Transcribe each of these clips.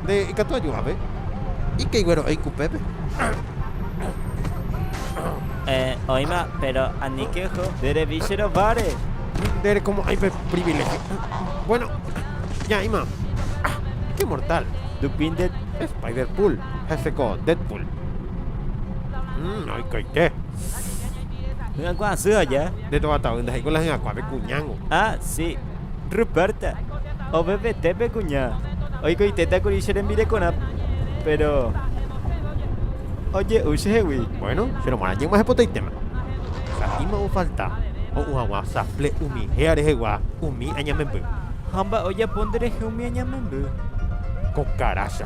Nde ikatu ajuhape. Ikei guero eik upépe. Eh, oima, pero ani que jo, de revisero vare. Dere como hay privilegio. Bueno, ya ima. Ah, qué mortal. Dupin de Spider-Pool. Jefe con Deadpool. Mmm, hay que Hyakuã asy aja. Nde tova tavy nde haiko la hyakuã pe kuñángo. Ah, si. Ruperta. Ovevete pe kuña. Oikoitéta kuri che rembirekorã, péro oje'u chehegui. Bueno, che romorã ñeg̃ua hepotaitéma. Sa'íma ofalta. Ho'u haguã safle umi héa rehegua umi añamemby. Ha mba'e ojapo nderehe umi añamemby. Ko karácha.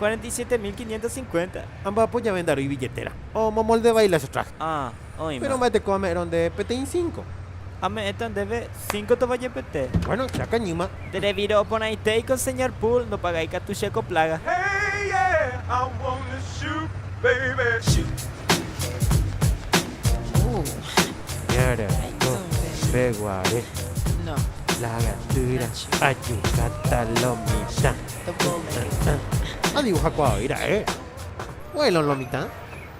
47550. Amba'apo jave ndaro'i billetéra. Omomoldevai la che traje. Ah, oĩma. Péro mba'eteko ame'ẽrõ ndéve peteĩ cinco. Ame'ẽta ndéve cinco tovajepete. Bueno, che akañýma. Nde revírõ oporãitéi ko señor Pool, ndopagái katu che ko plága. Hey, yeah, I wanna shoot, baby, shoot. Ñara reko peguare, la gatýra ajukáta lo mitã. Adivujakuaavei ra'e. Vuelo en lo mitã.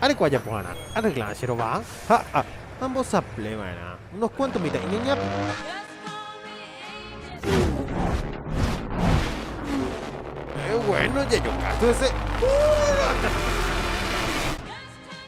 Areko ajapoharã, arreglarã che rova. Ha a. Ambosapleva'erã unos cuanto mitã'i ñañápe. Qué bueno, ya yo casi ese.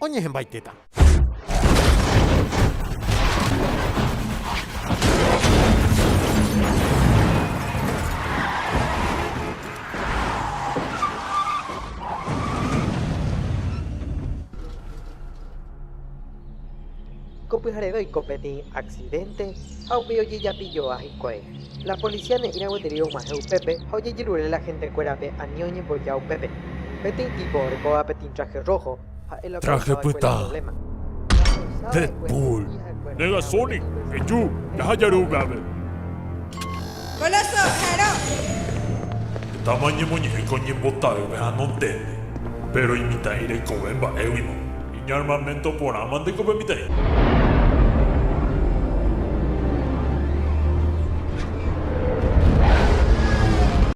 Oñehẽmbaitéta. Ko pyhareve oiko peteĩ aksidénte ha upéi ojejapilloa hikuái. La policia ne'ĩrã gueteri og̃uahẽ upépe ha ojejerure la hentekuérape ani oñemboja upépe. Peteĩ tipo orekóva peteĩ traje rróho, ha'e la okaruháva va'ekue la provléma. Deadpool. Ñaarmamento porã mante ko pe mitã'i.